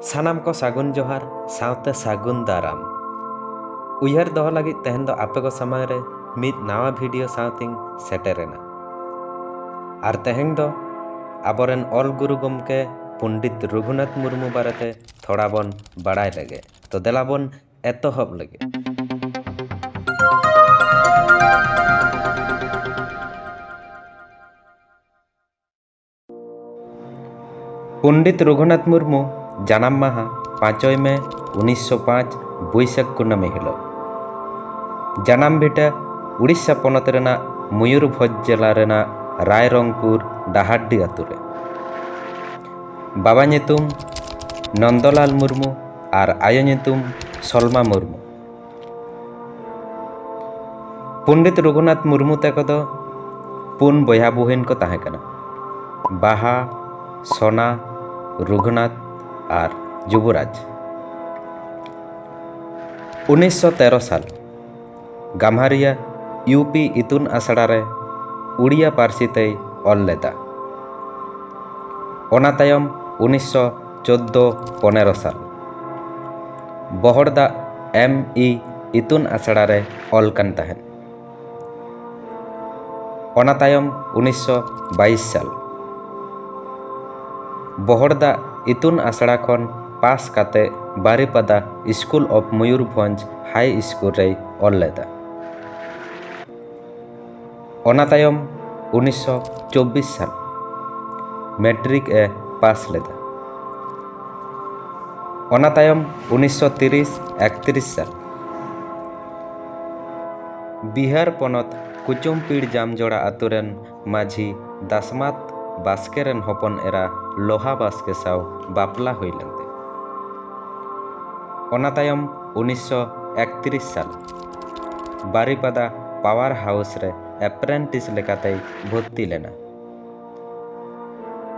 ᱥᱟᱱᱟᱢ ᱠᱚ ᱥᱟᱹᱜᱩᱱ ᱡᱚᱦᱟᱨ ᱥᱟᱶᱛᱮ ᱥᱟᱹᱜᱩᱱ ᱫᱟᱨᱟᱢ ᱩᱭᱦᱟᱹᱨ ᱫᱚᱦᱚ ᱞᱟᱹᱜᱤᱫ ᱛᱮᱦᱮᱧ ᱫᱚ ᱟᱯᱮ ᱠᱚ ᱥᱟᱢᱟᱝ ᱨᱮ ᱢᱤᱫ ᱱᱟᱣᱟ ᱵᱷᱤᱰᱤᱭᱳ ᱥᱟᱶᱛᱮᱧ ᱥᱮᱴᱮᱨᱮᱱᱟ ᱟᱨ ᱛᱮᱦᱮᱧ ᱫᱚ ᱟᱵᱚᱨᱮᱱ ᱚᱞ ᱜᱩᱨᱩ ᱜᱚᱢᱠᱮ ᱯᱚᱱᱰᱤᱛ ᱨᱚᱜᱷᱩᱱᱟᱛᱷ ᱢᱩᱨᱢᱩ ᱵᱟᱨᱮᱛᱮ ᱛᱷᱚᱲᱟ ᱵᱚᱱ ᱵᱟᱲᱟᱭ ᱞᱮᱜᱮ ᱛᱚ ᱫᱮᱞᱟ ᱵᱚᱱ ᱮᱛᱚᱦᱚᱵ ᱞᱮᱜᱮ ᱯᱚᱱᱰᱤᱛ ᱨᱚᱜᱷᱩᱱᱟᱛᱷ ᱢᱩᱨᱢᱩ ᱡᱟᱱᱟᱢ ᱢᱟᱦᱟ ᱯᱟᱸᱪᱚᱭ ᱢᱮ ᱩᱱᱤᱥᱥᱚ ᱯᱟᱸᱪ ᱵᱟᱹᱭᱥᱟᱹᱠᱷ ᱠᱩᱱᱟᱹᱢᱤ ᱦᱤᱞᱳᱜ ᱡᱟᱱᱟᱢ ᱵᱷᱤᱴᱟᱹ ᱩᱲᱤᱥᱥᱟ ᱯᱚᱱᱚᱛ ᱨᱮᱱᱟᱜ ᱢᱚᱭᱩᱨᱵᱷᱚᱸᱡᱽ ᱡᱮᱞᱟ ᱨᱮᱱᱟᱜ ᱨᱟᱭᱨᱚᱝᱯᱩᱨ ᱰᱟᱦᱟᱨᱰᱤ ᱟᱹᱛᱩ ᱨᱮ ᱵᱟᱵᱟ ᱧᱩᱛᱩᱢ ᱱᱚᱱᱫᱚᱞᱟᱞ ᱢᱩᱨᱢᱩ ᱟᱨ ᱟᱭᱳ ᱧᱩᱛᱩᱢ ᱥᱚᱞᱢᱟ ᱢᱩᱨᱢᱩ ᱯᱚᱱᱰᱤᱛ ᱨᱚᱜᱷᱩᱱᱟᱛᱷ ᱢᱩᱨᱢᱩ ᱛᱟᱠᱚ ᱫᱚ ᱯᱩᱱ ᱵᱚᱭᱦᱟ ᱵᱩᱦᱤᱱ ᱠᱚ ᱛᱟᱦᱮᱸ ᱠᱟᱱᱟ ᱵᱟᱦᱟ ᱥᱚᱱᱟ ᱨᱚᱜᱷᱩᱱᱟᱛᱷ ᱟᱨ ᱡᱩᱵᱚᱨᱟᱡᱽ ᱩᱱᱤᱥᱥᱚ ᱛᱮᱨᱚ ᱥᱟᱞ ᱜᱟᱢᱦᱟᱨᱤᱭᱟ ᱤᱭᱩᱯᱤ ᱤᱛᱩᱱ ᱟᱥᱲᱟ ᱨᱮ ᱩᱲᱤᱭᱟ ᱯᱟᱹᱨᱥᱤ ᱛᱮᱭ ᱚᱞ ᱞᱮᱫᱟ ᱚᱱᱟ ᱛᱟᱭᱚᱢ ᱩᱱᱤᱥᱥᱚ ᱪᱳᱫᱽᱫᱳ ᱯᱚᱱᱮᱨᱚ ᱥᱟᱞ ᱵᱚᱦᱚᱲ ᱫᱟᱜ ᱮᱢ ᱤ ᱤᱛᱩᱱ ᱟᱥᱲᱟ ᱨᱮ ᱚᱞ ᱠᱟᱱ ᱛᱟᱦᱮᱸᱫ᱾ ᱚᱱᱟ ᱛᱟᱭᱚᱢ ᱩᱱᱤᱥ ᱥᱚ ᱵᱟᱭᱤᱥ ᱥᱟᱞ ᱵᱚᱦᱚᱲ ᱫᱟᱜ ᱤᱛᱩᱱ ᱟᱥᱲᱟ ᱠᱷᱚᱱ ᱯᱟᱥ ᱠᱟᱛᱮ Baripada school of Mayurbhanj high school ᱨᱮᱭ ᱚᱞ ᱞᱮᱫᱟ᱾ ᱚᱱᱟ ᱛᱟᱭᱚᱢ ᱩᱱᱤᱥ ᱥᱚ ᱪᱚᱵᱵᱤᱥ ᱥᱟᱞ ᱢᱮᱴᱨᱤᱠ ᱮ ᱯᱟᱥ ᱞᱮᱫᱟ ᱚᱱᱟ ᱛᱟᱭᱚᱢ ᱩᱱᱤᱥ ᱥᱚ ᱛᱤᱨᱤᱥ ᱮᱠᱛᱨᱤᱥ ᱥᱟᱞ ᱵᱤᱦᱟᱨ ᱯᱚᱱᱚᱛ ᱠᱩᱪᱩᱢᱯᱤᱲ ᱡᱟᱢᱡᱚᱲᱟ ᱟᱹᱛᱩ ᱨᱮᱱ ᱢᱟᱹᱡᱷᱤ ᱫᱟᱥᱢᱟᱛ ᱵᱟᱥᱠᱮ ᱨᱮᱱ ᱦᱚᱯᱚᱱ ᱮᱨᱟ ᱞᱳᱦᱟ ᱵᱟᱥᱠᱮ ᱥᱟᱶ ᱵᱟᱯᱞᱟ ᱦᱩᱭ ᱞᱮᱱ ᱛᱟᱭᱟ ᱚᱱᱟ ᱛᱟᱭᱚᱢ ᱩᱱᱤᱥ ᱥᱚ ᱮᱠᱛᱨᱤᱥ ᱥᱟᱞ ᱵᱟᱨᱤᱯᱟᱫᱟ ᱯᱟᱣᱟᱨ ᱦᱟᱣᱩᱥ ᱨᱮ ᱮᱯᱨᱮᱱᱴᱤᱥ ᱞᱮᱠᱟᱛᱮᱭ ᱵᱷᱚᱨᱛᱤ ᱞᱮᱱᱟ᱾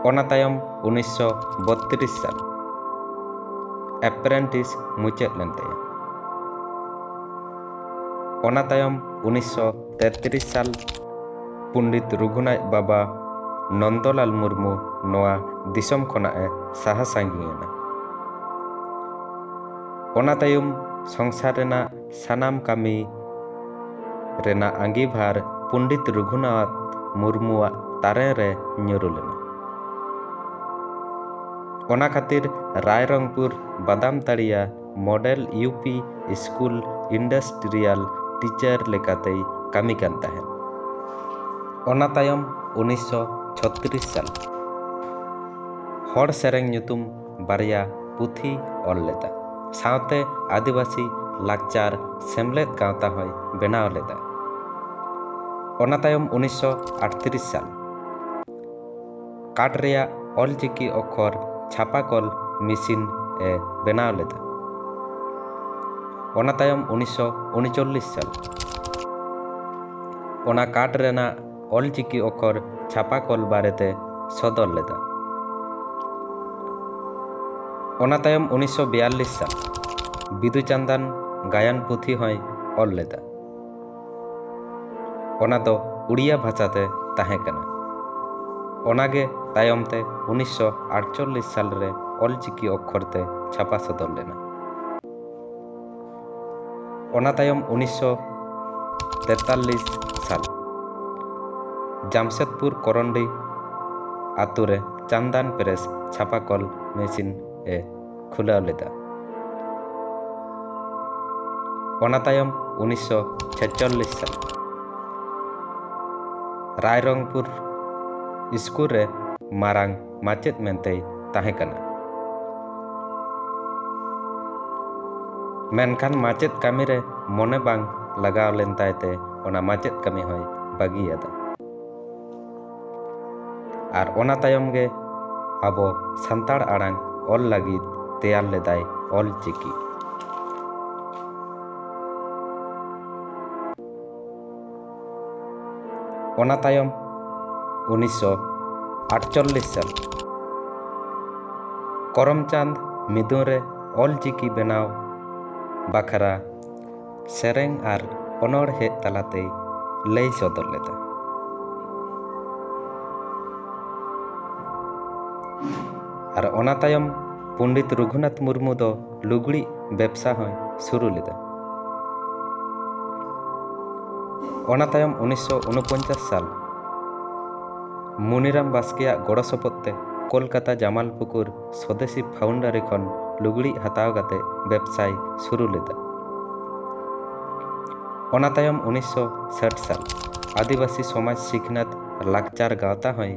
ᱚᱱᱟ ᱛᱟᱭᱚᱢ ᱩᱱᱤᱥᱥᱚ ᱵᱚᱛᱛᱨᱤᱥ ᱥᱟᱞ ᱮᱯᱨᱮᱱᱴᱤᱥ ᱢᱩᱪᱟᱹᱫ ᱞᱮᱱ ᱛᱟᱭᱟ᱾ ᱚᱱᱟ ᱛᱟᱭᱚᱢ ᱩᱱᱤᱥᱥᱚ ᱛᱮᱛᱨᱤᱥ ᱥᱟᱞ ᱯᱚᱱᱰᱤᱛ ᱨᱩᱜᱷᱩᱱᱟᱡᱽ ᱵᱟᱵᱟ ᱱᱚᱱᱫᱚᱞᱟᱞ ᱢᱩᱨᱢᱩ ᱱᱚᱣᱟ ᱫᱤᱥᱚᱢ ᱠᱷᱚᱱᱟᱜ ᱮ ᱥᱟᱦᱟ ᱥᱟᱺᱜᱤᱧ ᱮᱱᱟ᱾ ᱚᱱᱟ ᱛᱟᱭᱚᱢ ᱥᱚᱝᱥᱟᱨ ᱨᱮᱱᱟᱜ ᱥᱟᱱᱟᱢ ᱠᱟᱹᱢᱤ ᱨᱮᱱᱟᱜ ᱟᱺᱜᱤᱵᱷᱟᱨ ᱯᱚᱱᱰᱤᱛ ᱨᱚᱜᱷᱩᱱᱟᱛᱷ ᱢᱩᱨᱢᱩᱣᱟᱜ ᱛᱟᱨᱮᱱ ᱨᱮ ᱧᱩᱨᱩ ᱞᱮᱱᱟ᱾ ᱚᱱᱟ ᱠᱷᱟᱹᱛᱤᱨ Rairangpur Badamtaria model U P school industrial teacher ᱞᱮᱠᱟᱛᱮᱭ ᱠᱟᱹᱢᱤ ᱠᱟᱱ ᱛᱟᱦᱮᱸᱫ᱾ ᱚᱱᱟ ᱛᱟᱭᱚᱢ ᱩᱱᱤᱥᱥᱚ ᱪᱷᱚᱛᱨᱤᱥ ᱥᱟᱞ ᱨᱮ ᱦᱚᱲ ᱥᱮᱨᱮᱧ ᱧᱩᱛᱩᱢ ᱵᱟᱨᱭᱟ ᱯᱩᱛᱷᱤᱭ ᱚᱞ ᱞᱮᱫᱟ᱾ ᱥᱟᱶᱛᱮ ᱟᱹᱫᱤᱵᱟᱹᱥᱤ ᱞᱟᱠᱪᱟᱨ ᱥᱮᱢᱞᱮᱫ ᱜᱟᱶᱛᱟ ᱦᱚᱸᱭ ᱵᱮᱱᱟᱣ ᱞᱮᱫᱟ᱾ ᱚᱱᱟ ᱛᱟᱭᱚᱢ ᱩᱱᱤᱥᱥᱚ ᱟᱴᱛᱨᱤᱥ ᱥᱟᱞ ᱠᱟᱴ ᱨᱮᱭᱟᱜ ᱚᱞᱪᱤᱠᱤ ᱚᱠᱠᱷᱚᱨ ᱪᱷᱟᱯᱟᱠᱚᱞ ᱢᱤᱥᱤᱱ ᱮ ᱵᱮᱱᱟᱣ ᱞᱮᱫᱟ᱾ ᱚᱱᱟ ᱛᱟᱭᱚᱢ ᱩᱱᱤᱥᱥᱚ ᱩᱱᱩᱪᱚᱞᱞᱤᱥ ᱥᱟᱞ ᱚᱱᱟ ᱠᱟᱴ ᱨᱮᱱᱟᱜ ᱚᱞᱪᱤᱠᱤ ᱚᱠᱷᱚᱨ ᱪᱷᱟᱯᱟ ᱠᱚᱞ ᱵᱟᱨᱮᱛᱮ ᱥᱚᱫᱚᱨ ᱞᱮᱫᱟ᱾ ᱚᱱᱟ ᱛᱟᱭᱚᱢ ᱩᱱᱤᱥᱥᱚ ᱵᱤᱭᱟᱞᱞᱤᱥ ᱥᱟᱞ ᱵᱤᱫᱩᱼᱪᱟᱱᱫᱟᱱ ᱜᱟᱭᱟᱱ ᱯᱩᱛᱷᱤ ᱦᱚᱸᱭ ᱚᱞ ᱞᱮᱫᱟ᱾ ᱚᱱᱟ ᱫᱚ ᱩᱲᱤᱭᱟ ᱵᱷᱟᱥᱟ ᱛᱮ ᱛᱟᱦᱮᱸ ᱠᱟᱱᱟ᱾ ᱚᱱᱟ ᱜᱮ ᱛᱟᱭᱚᱢ ᱛᱮ ᱩᱱᱤᱥᱥᱚ ᱟᱴᱪᱚᱞᱞᱤᱥ ᱥᱟᱞ ᱨᱮ ᱚᱞᱪᱤᱠᱤ ᱚᱠᱷᱚᱨ ᱛᱮ ᱪᱷᱟᱯᱟ ᱥᱚᱫᱚᱨ ᱞᱮᱱᱟ᱾ ᱚᱱᱟ ᱛᱟᱭᱚᱢ ᱩᱱᱤᱥᱥᱚ ᱛᱮᱛᱟᱞᱞᱤᱥ ᱥᱟᱞ ᱡᱟᱢᱥᱮᱫᱽᱯᱩᱨ ᱠᱚᱨᱚᱱᱰᱤ ᱟᱛᱳ ᱨᱮ ᱪᱟᱱᱫᱟᱱ ᱯᱨᱮᱥ ᱪᱷᱟᱯᱟ ᱠᱚᱞ ᱢᱮᱥᱤᱱ ᱮ ᱠᱷᱩᱞᱟᱹᱣ ᱞᱮᱫᱟ ᱚᱱᱟ ᱛᱟᱭᱚᱢ ᱩᱱᱤᱥᱥᱚ ᱪᱷᱮᱪᱚᱞᱞᱤᱥ ᱥᱟᱞ ᱨᱟᱭᱨᱚᱝᱯᱩᱨ ᱥᱠᱩᱞ ᱨᱮ ᱢᱟᱨᱟᱝ ᱢᱟᱪᱮᱫ ᱢᱮᱱᱛᱮᱭ ᱛᱟᱦᱮᱸ ᱠᱟᱱᱟ᱾ ᱢᱮᱱᱠᱷᱟᱱ ᱢᱟᱪᱮᱫ ᱠᱟᱹᱢᱤ ᱨᱮ ᱢᱚᱱᱮ ᱵᱟᱝ ᱞᱟᱜᱟᱣ ᱞᱮᱱ ᱛᱟᱭ ᱛᱮ ᱚᱱᱟ ᱢᱟᱪᱮᱫ ᱠᱟᱹᱢᱤ ᱦᱚᱸᱭ ᱵᱟᱹᱜᱤ ᱟᱫᱟ᱾ ᱟᱨ ᱚᱱᱟ ᱛᱟᱭᱚᱢ ᱜᱮ ᱟᱵᱚ ᱥᱟᱱᱛᱟᱲ ᱟᱲᱟᱝ ᱚᱞ ᱞᱟᱹᱜᱤᱫ ᱛᱮᱭᱟᱨ ᱞᱮᱫᱟᱭ ᱚᱞ ᱪᱤᱠᱤ᱾ ᱚᱱᱟ ᱛᱟᱭᱚᱢ ᱩᱱᱤᱥᱥᱚ ᱟᱴᱪᱚᱞᱞᱤᱥ ᱥᱟᱞ ᱠᱚᱨᱚᱢᱪᱟᱸᱫᱽ ᱢᱤᱫᱩᱱ ᱨᱮ ᱚᱞᱪᱤᱠᱤ ᱵᱮᱱᱟᱣ ᱵᱟᱠᱷᱨᱟ ᱥᱮᱨᱮᱧ ᱟᱨ ᱚᱱᱚᱬᱦᱮ ᱛᱟᱞᱟᱛᱮᱭ ᱞᱟᱹᱭ ᱥᱚᱫᱚᱨ ᱞᱮᱫᱟ ᱟᱨ ᱚᱱᱟ ᱛᱟᱭᱚᱢ ᱯᱚᱱᱰᱤᱛ ᱨᱚᱜᱷᱩᱱᱟᱛᱷ ᱢᱩᱨᱢᱩ ᱫᱚ ᱞᱩᱜᱽᱲᱤᱡ ᱵᱮᱵᱽᱥᱟ ᱦᱚᱸᱭ ᱥᱩᱨᱩ ᱞᱮᱫᱟ᱾ ᱚᱱᱟ ᱛᱟᱭᱚᱢ ᱩᱱᱤᱥᱥᱚ ᱩᱱᱩᱯᱚᱧᱪᱟᱥ ᱥᱟᱞ ᱢᱩᱱᱤᱨᱟᱢ ᱵᱟᱥᱠᱮ ᱟᱜ ᱜᱚᱲᱚ ᱥᱚᱯᱚᱫ ᱛᱮ ᱠᱚᱞᱠᱟᱛᱟ ᱡᱟᱢᱟᱞᱯᱩᱠᱩᱨ ᱥᱚᱫᱮᱥᱤ ᱯᱷᱟᱣᱩᱱᱰᱟᱨᱤ ᱠᱷᱚᱱ ᱞᱩᱜᱽᱲᱤᱡ ᱦᱟᱛᱟᱣ ᱠᱟᱛᱮ ᱵᱮᱵᱽᱥᱟᱭ ᱥᱩᱨᱩ ᱞᱮᱫᱟ᱾ ᱚᱱᱟ ᱛᱟᱭᱚᱢ ᱩᱱᱤᱥᱥᱚ ᱥᱟᱴ ᱥᱟᱞ ᱟᱹᱫᱤᱵᱟᱹᱥᱤ ᱥᱚᱢᱟᱡᱽ ᱥᱤᱠᱷᱱᱟᱹᱛ ᱞᱟᱠᱪᱟᱨ ᱜᱟᱶᱛᱟ ᱦᱚᱸᱭ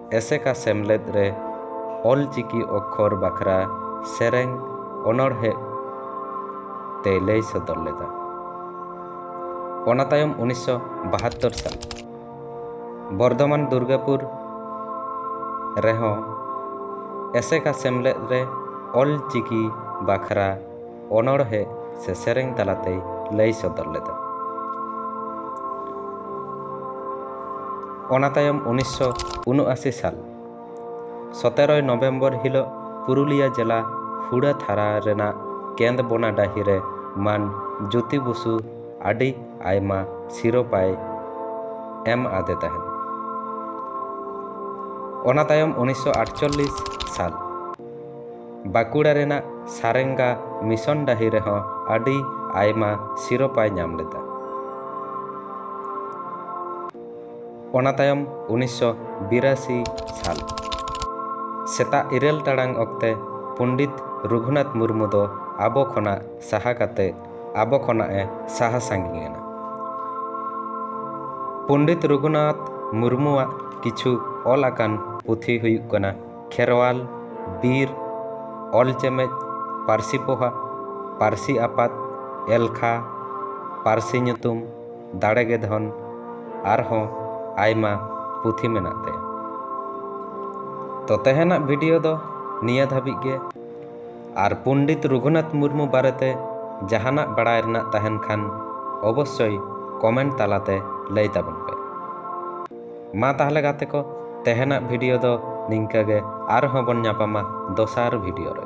ᱮᱥᱮᱠᱟ ᱥᱮᱢᱞᱮᱫ ᱨᱮ ᱚᱞ ᱪᱤᱠᱤ ᱚᱠᱠᱷᱚᱨ ᱵᱟᱠᱷᱨᱟ ᱥᱮᱨᱮᱧ ᱚᱱᱚᱬᱦᱮ ᱛᱮᱭ ᱞᱟᱹᱭ ᱥᱚᱫᱚᱨ ᱞᱮᱫᱟ᱾ ᱚᱱᱟ ᱛᱟᱭᱚᱢ ᱩᱱᱤᱥ ᱥᱚ ᱵᱟᱦᱟᱛᱛᱳᱨ ᱥᱟᱞ ᱵᱚᱨᱫᱷᱚᱢᱟᱱ ᱫᱩᱨᱜᱟᱯᱩᱨ ᱨᱮᱦᱚᱸ ᱮᱥᱮᱠᱟ ᱥᱮᱢᱞᱮᱫ ᱨᱮ ᱚᱞ ᱪᱤᱠᱤ ᱵᱟᱠᱷᱨᱟ ᱚᱱᱚᱬᱦᱮ ᱥᱮ ᱥᱮᱨᱮᱧ ᱛᱟᱞᱟᱛᱮᱭ ᱞᱟᱹᱭ ᱥᱚᱫᱚᱨ ᱞᱮᱫᱟ᱾ ᱚᱱᱟ ᱛᱟᱭᱚᱢ ᱩᱱᱤᱥᱥᱚ ᱩᱱᱩᱟᱥᱤ ᱥᱟᱞ ᱥᱚᱛᱮᱨᱚᱭ ᱱᱚᱵᱷᱮᱢᱵᱚᱨ ᱦᱤᱞᱚᱜ ᱯᱩᱨᱩᱞᱤᱭᱟ ᱡᱮᱞᱟ ᱦᱩᱲᱟᱹ ᱛᱷᱟᱨᱟ ᱨᱮᱱᱟᱜ ᱠᱮᱸᱫᱽᱵᱚᱱᱟ ᱰᱟᱹᱦᱤ ᱨᱮ ᱢᱟᱱ ᱡᱳᱛᱤ ᱵᱚᱥᱩ ᱟᱹᱰᱤ ᱟᱭᱢᱟ ᱥᱤᱨᱚᱯᱟᱭ ᱮᱢ ᱟᱫᱮ ᱛᱟᱦᱮᱸᱫ᱾ ᱚᱱᱟ ᱛᱟᱭᱚᱢ ᱩᱱᱤᱥᱥᱚ ᱟᱴᱪᱚᱞᱞᱤᱥ ᱥᱟᱞ᱾ ᱵᱟᱸᱠᱩᱲᱟ ᱨᱮᱱᱟᱜ ᱥᱟᱨᱮᱝᱜᱟ ᱢᱤᱥᱚᱱ ᱰᱟᱹᱦᱤ ᱨᱮᱦᱚᱸ ᱟᱹᱰᱤ ᱟᱭᱢᱟ ᱥᱤᱨᱚᱯᱟᱭ ᱧᱟᱢ ᱞᱮᱫᱟ᱾ ᱚᱱᱟ ᱛᱟᱭᱚᱢ ᱩᱱᱤᱥ ᱥᱚ ᱵᱤᱨᱟᱥᱤ ᱥᱟᱞ ᱥᱮᱛᱟᱜ ᱤᱨᱟᱹᱞ ᱴᱟᱲᱟᱝ ᱚᱠᱛᱮ ᱯᱚᱱᱰᱤᱛ ᱨᱚᱜᱷᱩᱱᱟᱛᱷ ᱢᱩᱨᱢᱩ ᱫᱚ ᱟᱵᱚ ᱠᱷᱚᱱᱟᱜ ᱥᱟᱦᱟ ᱠᱟᱛᱮ ᱟᱵᱚ ᱠᱷᱚᱱᱟᱜ ᱮ ᱥᱟᱦᱟ ᱥᱟᱺᱜᱤᱧ ᱮᱱᱟ᱾ ᱯᱚᱱᱰᱤᱛ ᱨᱚᱜᱷᱩᱱᱟᱛᱷ ᱢᱩᱨᱢᱩᱣᱟᱜ ᱠᱤᱪᱷᱩ ᱚᱞ ᱟᱠᱟᱱ ᱯᱩᱛᱷᱤ ᱦᱩᱭᱩᱜ ᱠᱟᱱᱟ᱾ ᱠᱷᱮᱨᱣᱟᱞ ᱵᱤᱨ ᱚᱞ ᱪᱮᱢᱮᱫ ᱯᱟᱹᱨᱥᱤ ᱯᱚᱦᱟ ᱯᱟᱹᱨᱥᱤ ᱟᱯᱟᱛ ᱮᱞᱠᱷᱟ ᱯᱟᱹᱨᱥᱤ ᱧᱩᱛᱩᱢ ᱫᱟᱲᱮ ᱜᱮ ᱫᱷᱚᱱ ᱟᱨᱦᱚᱸ ᱟᱭᱢᱟ ᱯᱩᱛᱷᱤ ᱢᱮᱱᱟᱜ ᱛᱟᱭᱟ ᱛᱚ ᱛᱮᱦᱮᱱᱟᱜ ᱵᱷᱤᱰᱤᱭᱳ ᱫᱚ ᱱᱤᱭᱟᱹ ᱫᱷᱟᱹᱵᱤᱡ ᱜᱮ ᱟᱨ ᱯᱚᱱᱰᱤᱛ ᱨᱚᱜᱷᱩᱱᱟᱛᱷ ᱢᱩᱨᱢᱩ ᱵᱟᱨᱮᱛᱮ ᱡᱟᱦᱟᱱᱟᱜ ᱵᱟᱲᱟᱭ ᱨᱮᱱᱟᱜ ᱛᱟᱦᱮᱱ ᱠᱷᱟᱱ ᱚᱵᱚᱥᱥᱚᱭ ᱠᱚᱢᱮᱱᱴ ᱛᱟᱞᱟᱛᱮ ᱞᱟᱹᱭ ᱛᱟᱵᱚᱱ ᱯᱮ ᱢᱟ ᱛᱟᱦᱚᱞᱮ ᱜᱟᱛᱮ ᱠᱚ ᱛᱮᱦᱮᱱᱟᱜ ᱵᱷᱤᱰᱤᱭᱳ ᱫᱚ ᱱᱤᱝᱠᱟᱹ ᱜᱮ ᱟᱨᱦᱚᱸ ᱵᱚᱱ ᱧᱟᱯᱟᱢᱟ ᱫᱚᱥᱟᱨ ᱵᱷᱤᱰᱤᱭᱳ ᱨᱮ